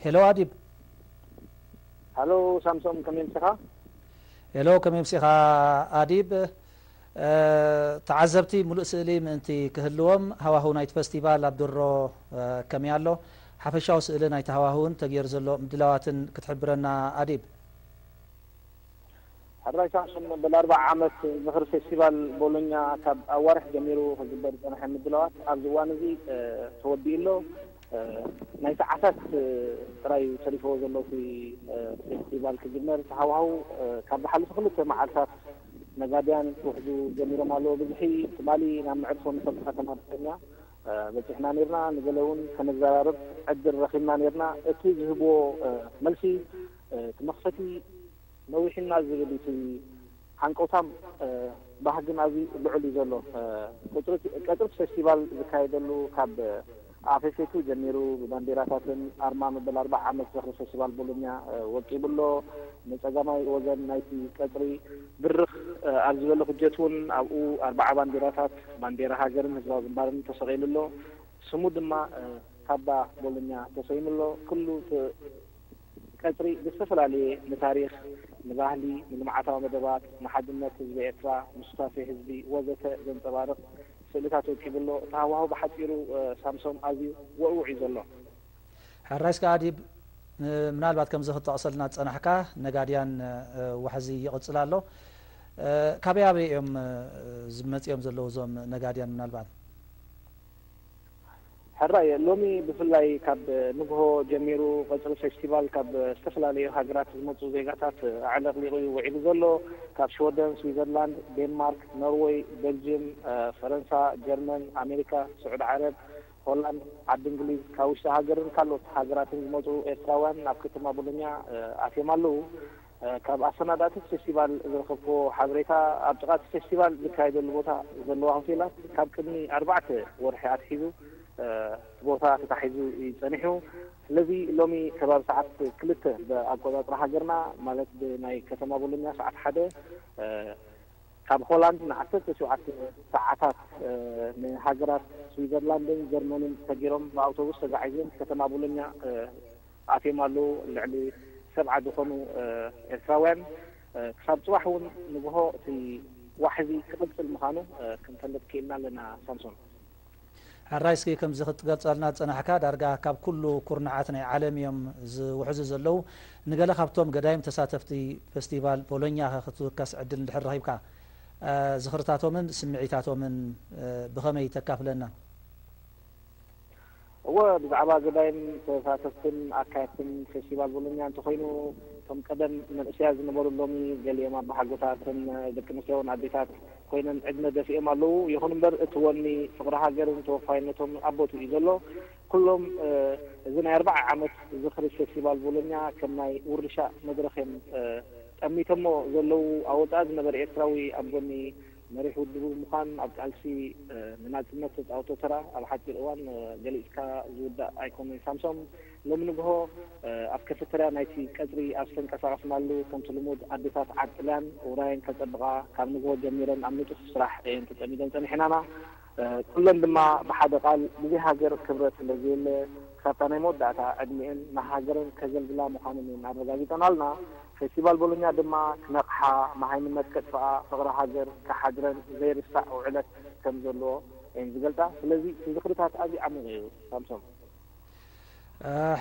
ሄሎ ኣዲብ። ሃሎ ሳምሶም ከመይ ኣምሲኻ? ሄሎ ከመይ ኣምሲኻ ኣዲብ። ተዓዘብቲ ምሉእ ስእሊ ምእንቲ ክህልዎም ሃዋህው ናይቲ ፈስቲቫል ኣብ ድሮ ከመይ ኣሎ? ሓፈሻዊ ስእሊ ናይቲ ሃዋህውን ተገይሩ ዘሎ ምድላዋትን ክትሕብረና ኣዲብ። ሕራይ ሳምሶን መበል ኣርብዓ ዓመት ዝኽሪ ፌስቲቫል ቦሎኛ ካብ ኣዋርሕ ጀሚሩ ክግበር ዝጸንሐ ምድላዋት ኣብዚ እዋን እዚ ተወዲኡ ኣሎ። ናይ ሰዓታት ጥራይ እዩ ተሪፍዎ ዘሎ እቲ ፌስቲቫል ክጅመር። እቲ ሃዋህው ካብ ዝሓለፉ ክልተ መዓልታት ነጋድያን ክውሕዙ ጀሚሮም ኣለዉ። ብዝሒ ትማሊ ናብ መዕርፎ ነፈርቲ ከተማ ቦሎኛ በጺሕና ኔርና። ንገለ እውን ከነዘራርብ ዕድል ረኺብና ኔርና። እቲ ዝህብዎ መልሲ እቲ መኽፈቲ ነዊሑና ዝብል እቲ ሃንቀውታን ባህግን ኣዝዩ ልዑል እዩ ዘሎ። ቀጽሪ እቲ ፌስቲቫል ዝካየደሉ ካብ ኣፌፌቱ ጀሚሩ ብባንዴራታትን ኣርማ መበል ኣርብዓ ዓመት ዝኽሪ ፌስቲቫል ቦሎኛ ወቂቡ ኣሎ። ንጸጋማይ ወገን ናይቲ ቀጽሪ ብርኽ ኣብ ዝበለ ኩጀት እውን ኣብኡ ኣርብዓ ባንዴራታት፣ ባንዴራ ሃገርን ህዝባዊ ግንባርን፣ ተሰቒሉ ኣሎ። ስሙ ድማ ካባ ቦሎኛ ተሰይሙ ኣሎ። ኩሉ እቲ። ቀጽሪ ብዝተፈላለየ ንታሪኽ፣ ንባህሊ፣ ንልምዓታዊ መደባት፣ ንሓድነት ህዝቢ ኤርትራ፣ ንሱታፌ ህዝቢ ወዘተ ዘንጸባርቕ ስእልታት ወቂቡ ኣሎ። እቲ ሃዋህው ብሓጺሩ ሳምሶም ኣዝዩ ወእውዕ እዩ ዘሎ። ሕራይስ ከኣ ዲብ ምናልባት ከምዚ ክትጠቕሰልና ዝጸናሕካ ነጋድያን ዋሕዚ ይቕጽል ኣሎ። ካበይ ኣበይ እዮም መጺኦም ዘለዉ እዞም ነጋድያን ምናልባት? ሕራይ ሎሚ ብፍላይ ካብ ንግሆ ጀሚሩ ቐጽሪ ፌስቲቫል ካብ ዝተፈላለዩ ሃገራት ዝመጹ ዜጋታት ኣዕለቕሊቑ እዩ ውዒሉ ዘሎ። ካብ ሽወደን፣ ስዊዘርላንድ፣ ዴንማርክ፣ ኖርወይ፣ ቤልጅም፣ ፈረንሳ፣ ጀርመን፣ ኣሜሪካ፣ ስዑዲ ዓረብ፣ ሆላንድ፣ ዓዲ እንግሊዝ፣ ካብ ውሽጢ ሃገርን ካልኦት ሃገራትን ዝመጹ ኤርትራውያን ናብ ከተማ ቦሎኛ ኣትዮም ኣለዉ። ካብ ኣሰናዳእቲ እቲ ፌስቲቫል ዝረኸብክዎ ሓበሬታ፣ ኣብ ጥቓ እቲ ፌስቲቫል ዝካየደሉ ቦታ ዘለዋ ሆቴላት ካብ ቅድሚ ኣርባዕተ ወርሒ ኣትሒዙ እቲ ቦታ ተታሒዙ እዩ ጸኒሑ። ስለዚ ሎሚ ከባቢ ሰዓት ክልተ ብኣቆጻጽራ ሃገርና ማለት ብናይ ከተማ ቦሎኛ ሰዓት ሓደ ካብ ሆላንድ ንዓሰርተ ሸውዓተ ሰዓታት ንሃገራት ስዊዘርላንድን ጀርመንን ሰጊሮም ብኣውቶቡስ ተጋዒዞም ከተማ ቦሎኛ ኣትዮም ኣለዉ። ልዕሊ ሰብዓ ዝኾኑ ኤርትራውያን ክሳብ ጽባሕ እውን ንግሆ እቲ ዋሕዚ ክቕጽል ምኻኑ ክንፈልጥ ክኢልና ኣለና ሳምሶን። ሕራይ እስኪ ከምዚ ክትገልጸልና ዝጸናሕካ ዳርጋ ካብ ኩሉ ኩርናዓት ናይ ዓለም እዮም ዝውሕዙ ዘለዉ። ንገለ ካብቶም ገዳይም ተሳተፍቲ ፈስቲቫል ቦሎኛ ከ ክትውከስ ዕድል እንድሕር ረኺብካ ዝኽርታቶምን ስምዒታቶምን ብኸመይ ተካፍለና? እወ ብዛዕባ ገዳይም ተሳተፍትን ኣካየድትን ፌስቲቫል ቦሎኛ እንተኾይኑ እቶም ቀደም መንእሰያት ዝነበሩ ሎሚ ገሊኦም ኣባሓጎታት እተን ደቂ ኣንስትዮ ውን ኣዴታት ኮይነን ዕድመ ደፊኦም ኣለዉ ይኹን እምበር እቲ ወኒ ፍቕሪ ሃገርን ተወፋይነቶም ኣብ ቦትኡ እዩ ዘሎ ኩሎም እዚ ናይ ኣርብዓ ዓመት ዝኽሪ ፌስቲቫል ቦሎኛ ከም ናይ ውርሻ መድረኽ እዮም ጠሚቶሞ ዘለዉ ኣብ ወጻኢ ዝነበረ ኤርትራዊ ኣብ ጎኒ መሪሕ ውድብ ብምዃን ኣብ ቃልሲ ንናጽነት ዝተጻወቶ ተራ ኣብ ሓጺር እዋን ገሊጽካ ዝውዳእ ኣይኮነይ ሳምሶም ሎሚ ንግሆ ኣብ ከፈተርያ ናይቲ ቀጽሪ ኣብ ዝተንቀሳቐስናሉ ከምቲ ልሙድ ኣዴታት ዓድ ጥልያን ውራየን ከጸብቓ ካብ ንግሆ ጀሚረን ኣብ ንጡፍ ስራሕ እየን ተጸሚደን ጸኒሐናና ኩለን ድማ ብሓደ ቃል ብዘይ ሃገር ክብረት ስለ ዘየለ ክሳብታ ናይ መወዳእታ ዕድሚኤን ንሃገረን ከገልግላ ምዃነን እየን ኣረጋጊጸናልና። ፌስቲቫል ቦሎኛ ድማ ክነቕሓ፣ መሃይምነት ከጥፍኣ፣ ፍቕሪ ሃገር ክሓድረን ዘይርሳዕ ውዕለት ከም ዘለዎ እየን ዝገልጻ። ስለዚ እቲ ዝኽርታት ኣዝዩ ዓሚቕ እዩ ሳምሶም።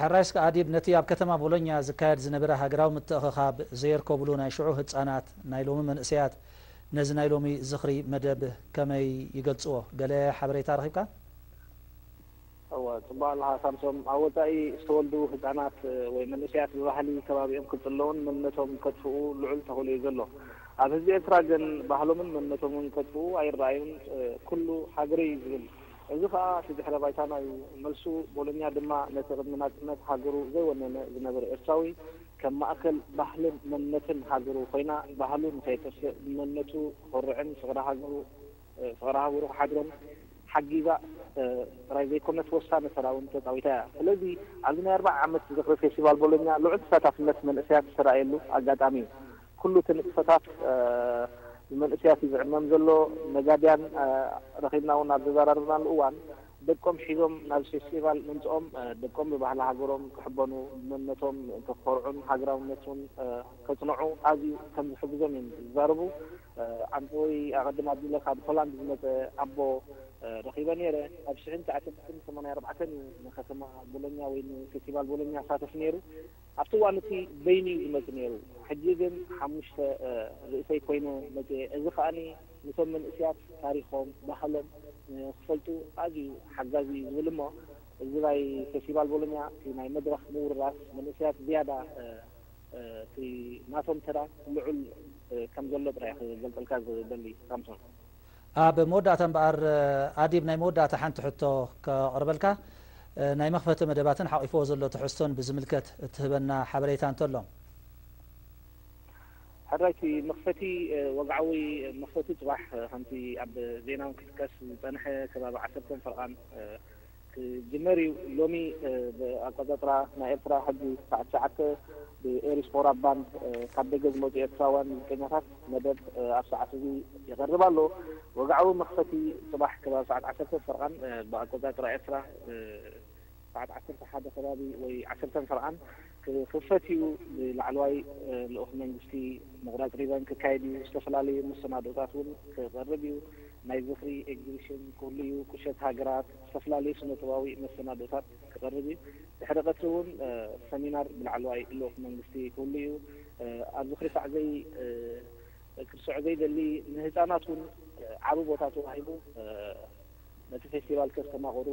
ሕራይ እስከ ኣዲብ ነቲ ኣብ ከተማ ቦሎኛ ዝካየድ ዝነበረ ሃገራዊ ምትእኽኻብ ዘየርከቡሉ ናይ ሽዑ ህጻናት ናይ ሎሚ መንእሰያት ነዚ ናይ ሎሚ ዝኽሪ መደብ ከመይ ይገልጽዎ ገለ ሓበሬታ ረኺብካ? እወ ጽቡቅ ኣለኻ ሳምሶም ኣብ ወጻኢ ዝተወልዱ ህጻናት ወይ መንእሰያት ብባህሊ ከባቢኦም ክጽለዉን መንነቶም ከጥፍኡ ልዑል ተኽእሎ እዩ ዘሎ ኣብ ህዝቢ ኤርትራ ግን ባህሎምን መንነቶምን ከጥፍኡ ኣይረኣዩን ኩሉ ሃገረይ ዝብል እዚ ከኣ እቲ ድሕረ ባይታና እዩ መልሱ። ቦሎኛ ድማ ነቲ ቅድሚ ናጽነት ሃገሩ ዘይወነነ ዝነበረ ኤርትራዊ ከም ማእከል ባህልን መንነትን ሃገሩ ኮይና ባህሉ ንኸየጥፍእ ብመንነቱ ክኾርዕን ፍቕሪ ሃገሩ ፍቕሪ ሃገሩ ክሓድሮን ሓጊዛ ጥራይ ዘይኮነት ወሳኒ ተራ እውን ተጻዊታ እያ። ስለዚ ኣብዚ ናይ ኣርብዓ ዓመት ዝኽሪ ፌስቲቫል ቦሎኛ ልዑል ተሳታፍነት መንእሰያት ዝተራእየሉ ኣጋጣሚ እዩ። ኩሉ እቲ ንጥፈታት ብመንእሰያት እዩ ዝዕመም ዘሎ። ነጋድያን ረኺብና እውን ኣብ ዘዘራረብናሉ እዋን፣ ደቆም ሒዞም ናብዚ ፌስቲቫል ምምጽኦም፣ ደቆም ብባህሊ ሃገሮም ክሕበኑ፣ ብመንነቶም ምእንቲ ክኾርዑን ሃገራውነት እውን ከጽንዑ ኣዝዩ ከም ዝሕግዞም እዮም ዝዛረቡ። ዓንተወይ ኣቐድም ኣቢለ ካብ ሆላንድ ዝመጸ ኣቦ ረኺበ ነይረ። ኣብ ሽሕን ትዓሰርተን ሰማንያ ኣርባዕተን እዩ ንከተማ ቦሎኛ ወይ ንፌስቲቫል ቦሎኛ ኣሳተፍ ነይሩ። ኣብቲ እዋን እቲ በይኑ እዩ ዝመጽእ ነይሩ፣ ሕጂ ግን ሓሙሽተ ርእሰይ ኰይነ መጺኤ። እዚ ከኣ ነቶም መንእሰያት ታሪኾም፣ ባህሎም ንኽፈልጡ ኣዝዩ ሓጋዚ እዩ ዝብል እሞ እዚ ናይ ፌስቲቫል ቦሎኛ እቲ ናይ መድረኽ ምውርራስ መንእሰያት ዝያዳ እቲ ናቶም ተራ ልዑል ከም ዘሎ ጥራይ እየ ክገልጸልካ ዝደሊ ሳምሶን። ኣብ መወዳእታ እምበኣር ኣዴብ ናይ መወዳእታ ሓንቲ ሕቶ ከቕርበልካ፣ ናይ መኽፈቲ መደባትን ሓቚፍዎ ዘሎ ትሕዝቶን ብዝምልከት እትህበና ሓበሬታ እንተሎ። ሕራይሲ መኽፈቲ ወግዓዊ መኽፈቲ ጽባሕ ከምቲ ኣብ ዜናውን ክጥቀስ ዝጸንሐ ከባቢ ዓሰርተን ፈርቓን ክጅመር እዩ ሎሚ ብ ኣቆጻጽራ ናይ ኤርትራ ሕጂ ሳዕ ትሽዓተ ብ ኤሪስፖራ ባንድ ካብ ደገ ዝመጹ ኤርትራውያን ሙዚቀኛታት መደብ ኣብ ሳዓት እዚ ይቀርብ ኣሎ ወግዓዊ መክፈቲ ጽባሕ ከባቢ ሳዓት ዓሰርተ ፈርቓን ብ ኣቆጻጽራ ኤርትራ ሳዓት ዓሰርተ ሓደ ከባቢ ወይ ዓሰርተን ፈርቓን ክኽፈት'ዩ፣ ብላዕለዋይ ልኡኽ መንግስቲ ምቑራጽ ሪባን ክካየድ'ዩ፣ ዝተፈላለዩ መሰናድኦታት'ውን ክቐርብ'ዩ፣ ናይ ዝኽሪ ኤግዚቢሽን ክህሉ'ዩ፣ ቁሸት ሃገራት፣ ዝተፈላለዩ ስነ-ጥበባዊ መሰናድኦታት ክቐርብ'ዩ፣ ድሕሪ ቀትሪ'ውን ሰሚናር ብላዕለዋይ ልኡኽ መንግስቲ ክህሉ'ዩ፣ ኣብ ዝኽሪ ሳዕ ዘይክርስዖ ዘይደሊ ንህጻናት'ውን ዓቢ ቦታ ተዋሂቡ ነቲ ፌስቲቫል ከስተማቕሩ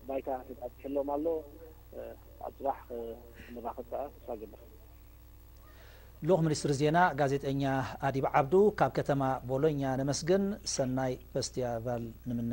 ባይታ ተጣጢሑሎም ኣሎ። ኣብ ፅባሕ ክንራኸብ ከዓ ተስፋ እገብር። ልኡኽ ሚኒስትሪ ዜና ጋዜጠኛ ኣዲብ ዓብዱ ካብ ከተማ ቦሎኛ ነመስግን ሰናይ ፈስትያቫል ንምነ።